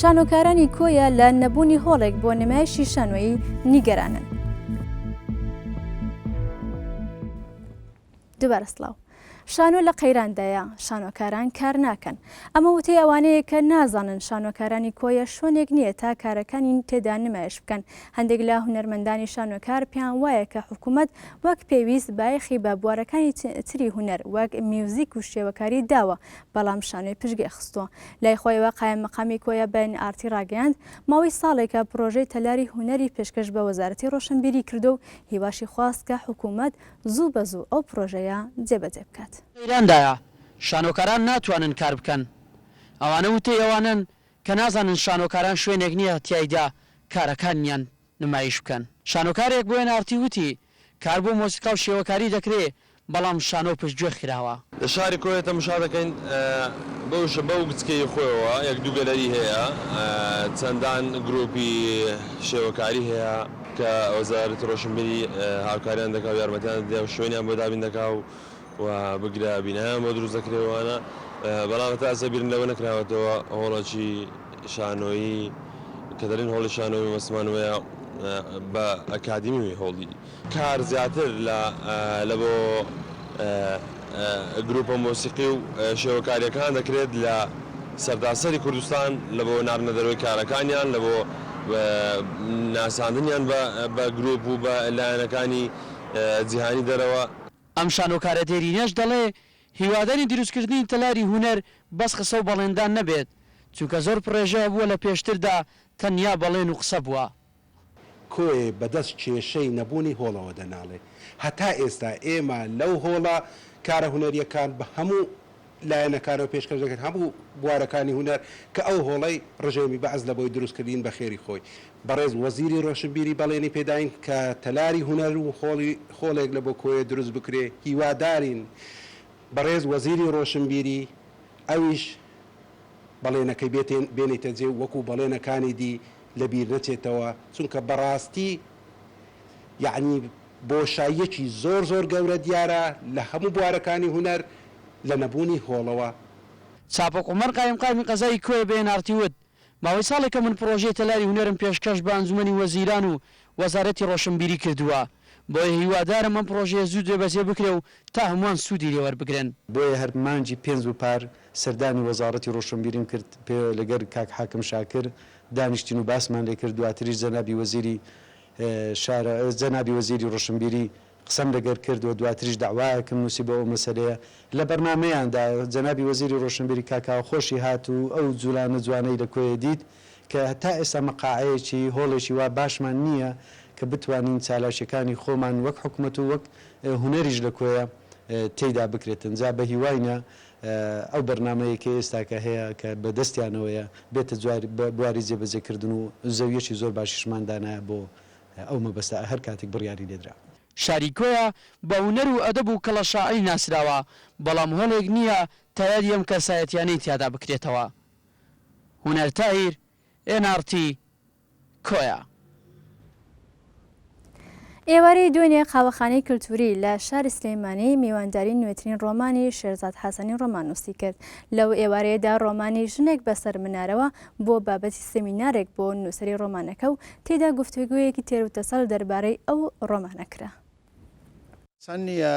شانۆکارانی کۆیە لە نەبوونی هۆڵێک بۆ نمایشی شانۆیی نیگەرانن. دوبارە سلااو. شانۆ لە قەیراندایە شانۆکاران کار ناکەن ئەمە وتەی ئەوانەیە کە نازانن شانۆکارانی کۆیە شوێنێک نییە تا کارەکانی تێدا نمایش بکەن هەندێک لە هونەرمەندانی شانۆکار پێیان وایە کە حکوومەت وەک پێویست بایەخی بە بوارەکانی تری هونەر وەک میوزیک و شێوەکاری داوە، بەڵام شانۆی پشتگوێ خستووە. لای خۆیەوە قایممەقامی کۆیە بە ئێن ئاڕتی ڕاگەیاند، ماوەی ساڵێکە پڕۆژەی تەلاری هونەری پێشکەش بە وەزارەتی ڕۆشنبیری کردووە و هیواشی خواست کە حکوومەت زوو بە زوو ئەو پڕۆژەیە جێبەجێ بکات. لە ئێراندایە شانۆکاران ناتوانن کار بکەن، ئەوانە وتەی ئەوانەن کە نازانن شانۆکاران شوێنێک نییە تیایدا کارەکانیان نمایش بکەن. شانۆکارێک بۆ ئێن ئاڕ تی وتی، کار بۆ مۆسیقا و شێوەکاری دەکرێ، بەڵام شانۆ پشتگوێ خراوە. لە شاری کۆیە تەمشا دەکەین بە وشە بەو گچکەی خۆیەوە یەک دوو گەلەری هەیە چەندان گروپی شێوەکاری هەیە کە وەزارەتی ڕۆشنبیری هاوکاریان دەکا و یارمەتیان دەدەێ و شوێنیان بۆ دابین دەکا و و بگرە بینایان بۆ دروست دەکرێ وانە بەڵام هەتا ئەسە بیرم لەوە نەکراوەتەوە هۆڵەکی شانۆیی کە دەرین هۆڵی شانۆی مەسمان وەیە بە ئەکادیمی هۆڵی کار زیاتر لە لە بۆ گروپە مۆسیقی و شێوەکاریەکان دەکرێت لە سەرتاسەری کوردستان لە بۆ ناردنە دەرەوەی کارەکانیان لە بۆ ناساندنیان بە گروپ و بە لایەنەکانی جیهانی دەرەوە. ئەم شانۆکارە دێرینەش دەڵێ، هیوادارین دروستکردنی تەلاری هونەر بەس قسە و بەڵێندان نەبێت، چونکە زۆر پڕێژە هەبووە لە پێشتردا تەنیا بەڵێن و قسە بووە. کۆیە بە دەست کێشەی نەبوونی هۆڵەوە دەناڵێ. هەتا ئێستا ئێمە لەو هۆڵە کارە هونەرییەکان بە هەموو لایەنەکانەوە پێشکەش دەکرێت هەموو بوارەکانی هونەر کە ئەو هۆڵەی ڕژێمی بەعس لە بۆی دروست کردین بە خێری خۆی بەڕێز وەزیری ڕۆشنبیری بەڵێنی پێداین کە تەلاری هونەر و هۆڵی هۆڵێک لە بۆ کۆیە دروست بکرێ هیوادارین بەڕێز وەزیری ڕۆشنبیری ئەویش بەڵێنەکەی بێتێن بێنیتە جێ و وەکوو بەڵێنەکانی دی لە بیر نەچێتەوە چونکە بەڕاستی یەعنی بۆشاییەکی زۆر زۆر گەورە دیارە لە هەموو بوارەکانی هونەر لە نەبوونی هۆڵەوە. چاپۆک عومەر قایمقامی قەزای کۆیە بە ئێن ئاڕ تی وت، ماوەی ساڵێکە من پڕۆژەی تەلاری هونەرم پێشکەش بە ئەنجومەنی وەزیران و وەزارەتی ڕۆشنبیری کردووە، بۆیە هیوادارم ئەم پڕۆژەیە زوو جێبەجێ بکرێ و تا هەمووان سوودی لێ وەربگرن. بۆیە هەر مانگی پێنج و پار سەردانی وەزاڕەتی ڕۆشنبیریم کرد پێ لەگەر کاک حاکم شاکر دانیشتین و باسمان لێ کرد، دواتریش جەنابی وەزیری شارە جەنابی وەزیری ڕۆشنبیری قسەم لەگەر کرد و دواتریش دەعوایەکم نووسی بۆ ئەو مەسەلەیە، لە بەرنامەیاندا جەنابی وەزیری ڕۆشنبیری کاک کاوەخۆشی هات و ئەو جولانە جوانەی لە کۆیە دیت کە تا ئێستا مەقاعەیەکی هۆڵێکی وا باشمان نییە کە بتوانین چالاکیەکانی خۆمان وەک حکومەت و وەک هونەریش لە کۆیە تێیدا بکرێتن جا بە هیواینە ئەو بەرنامەیەی کە ئێستاکە هەیە کە بە دەستیانەوەیە بێتە بواری جێبەجێ کردن و زەویەکی زۆر باشیشمان دانایە بۆ ئەو مەبەستە ئە هەر کاتێک بڕیاری لێ درا. شاری کۆیە بە هونەر و ئەدەب و کەڵە شاعری ناسراوە، بەڵام هەڵێک نییە تایەری ئەم کەسایەتیانەی تیادا بکرێتەوە. هونەر تاهیر، ئێن ئاڕ تی. کۆیە. ئێوارەی دوێنێ قاوەخانەی کلتوری لە شاری سلێمانی میوانداری نوێترین ڕۆمانی شێرزاد حەسەنی ڕۆماننووسی کرد لەو ئێوارەیەدا ڕۆمانی ژنێک بەسەر منارەوە بۆ بابەتی سمینارێک بۆ نووسری ڕۆمانەکە و تێدا گفتوگویەکی تێروتەسەل دەربارەی ئەو ڕۆمانەکرا. سان نییە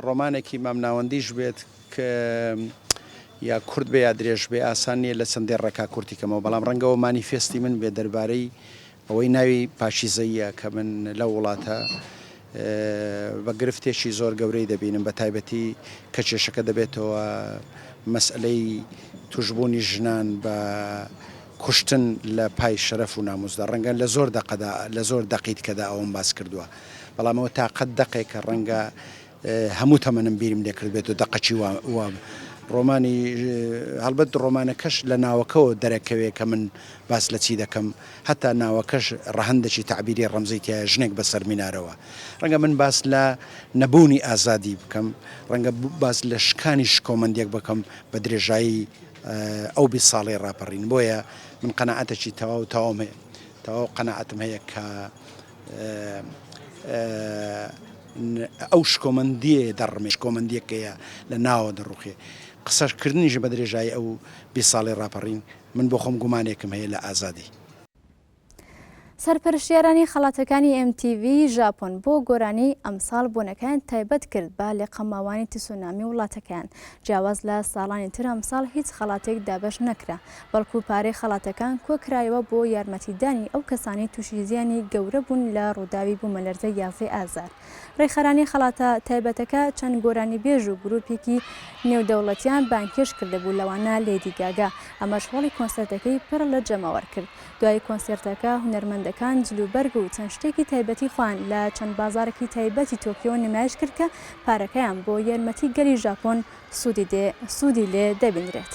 ڕۆمانێکی مامناوەندیش بێت ک یا کورت بێ یا درێژ بێ، ئاسان نییە لە چەند دێڕێکا کورتی کەمەوە، بەڵام ڕەنگە ئەوە مانیفێستی من بێت دەربارەی ئەوەی ناوی پاکیزەییە کە من لەو وڵاتە بە گرفتێکی زۆر گەورەی دەبینم، بە تایبەتی کە کێشەکە دەبێتەوە مەسئەلەی تووشبوونی ژنان بە کوشتن لە پای شەرەف و ناموسدا ڕەنگە لە زۆر دەقەدا لە زۆر دەقی دکەدا ئەوەم باس کردوە بەڵام ئەوە تاقەت دەقێکە ڕەنگە هەموو تەمەنم بیرم لێ کردبێت و دەقەچی وا وا ڕۆمانی هەڵبەت ڕۆمانەکەش لە ناوەکەەوە دەرەکەوێ کە من باس لە چی دەکەم هەتا ناوەکەش ڕەهندەکی تعبیری ڕەمزی تایە ژنێک بە سەرمینارەوە ڕەنگە من باس لە نەبوونی ئازادی بکەم ڕەنگە باس لە شکانی شکۆمەندێک بکەم بە درێژایی ئەو بیست ساڵەی ڕاپەڕین بۆیە من قەناعەتەکی تەواو تەواوم هەیە تەواو قەناعەتم هەیە کە ئەو شکۆمەندیە دەڕمێ شکۆمەندیەکەیە لە ناوە دەڕوخێ قسەشکردنیش بە درێژایی ئەو بێ ساڵی ڕاپەڕین من بۆ خۆم گومانێکم هەیە لە ئازادی. سەرپەرشتیارانی خەڵاتەکانی ئێم تی ڤی ژاپۆن بۆ گۆرانی ئەمساڵ بۆنەکەیان تایبەت کرد بە لێقەماوانی تسونامی وڵاتەکەیان جیاواز لە ساڵانی تر ئەمساڵ هیچ خەڵاتێک دابەش نەکرا بەڵکو پارەی خەڵاتەکان کۆکرایەوە بۆ یارمەتیدانی ئەو کەسانی تووشی زیانی گەورە بوون لە ڕووداوی بوومەلەرزە یازدەی ئازار. ڕێکخەرانی خەڵاتە تایبەتەکە چەند گۆرانیبێژ و گروپێکی نێودەوڵەتیان بانگهێشت کردبوو لەوانە لێدی گاگا ئەمەش هۆڵی کۆنسرتەکەی پڕ لە جەماوەر کرد دوای کۆنسێرتەکە هونەرمەندەکان جلوبەرگ و چەند شتێکی تایبەتی خۆیان لە چەند بازارێکی تایبەتی تۆکیۆ نمایش کرد کە پارەکەیان بۆ یارمەتی گەلی ژاپۆن سوودی دێ سوودی لێ دەبینرێت.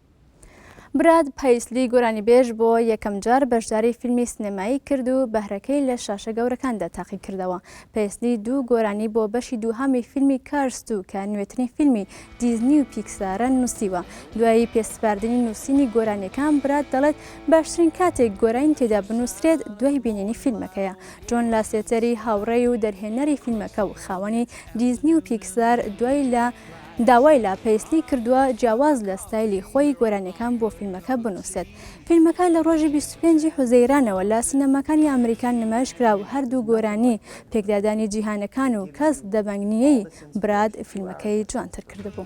براد پەیسلی گۆرانیبێژ بۆ یەکەم جار بەشداری فیلمی سنێمایی کرد و بەهرەکەی لە شاشە گەورەکاندا تاقی کردەوە پەیسلی دوو گۆرانی بۆ بەشی دووهامی فیلمی کارست و کە نوێترین فیلمی دیزنی و پیکسارە نووسیوە دوایی پێسپاردنی نووسینی گۆرانیەکان براد دەڵێت باشترین کاتێک گۆرانی تێدا بنووسرێت دوای بینینی فیلمەکەیە جۆن لاسێتەری هاوڕێی و دەرهێنەری فیلمەکە و خاوەنی دیزنی و پیکسار دوای لە داوای لە پەیسلی کردووە جیاواز لە ستایلی خۆی گۆرانیەکان بۆ فیلمەکە بنووسێت. فیلمەکە لە ڕۆژی بیست و پێنج ی حوزەیرانەوە لە سینەماکانی ئەمریکا نمایش کرا و هەردوو گۆرانی پێکدادانی جیهانەکان و کەس دەبەنگ نییەی براد فیلمەکەی جوانتر کردبوو.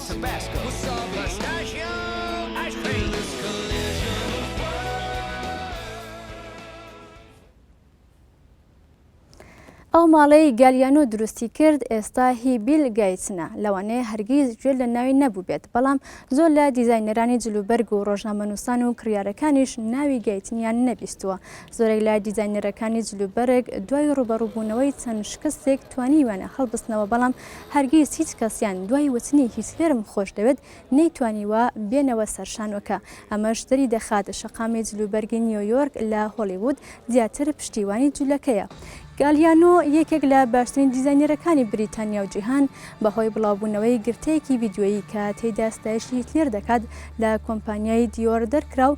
ئەو ماڵەی گالیانۆ دروستی کرد ئێستا هی بیل گەیتسنە لەوانەیە هەرگیز گوێ لە ناوی نەبووبێت بەڵام زۆر لە دیزاینەرانی جلوبەرگ و ڕۆژنامەنووسان و کڕیارەکانیش ناوی گەیتنیان نەبیستووە زۆرێک لە دیزاینەرەکانی جلوبەرگ دوای ڕوبەڕوبوونەوەی چەند شکستێک توانیویانە هەڵبستنەوە بەڵام هەرگیز هیچ کەسیان دوای وتنی هیتلێرم خۆشدەوێت نەیتوانیوە بێنەوە سەر شانۆکە ئەمەش دەری دەخات شەقامی جلوبەرگی نیۆیۆرک لە هۆڵیوود زیاتر پشتیوانی جولەکەیە گالیانۆ یەکێک لە باشترین دیزاینەرەکانی بریتانیا و جیهان بەهۆی بڵاوبوونەوەی گرتەیەکی ڤیددیۆیی کە تێیدا ستایشی هیتلێر دەکات لە کۆمپانیای دیۆر دەرکرا و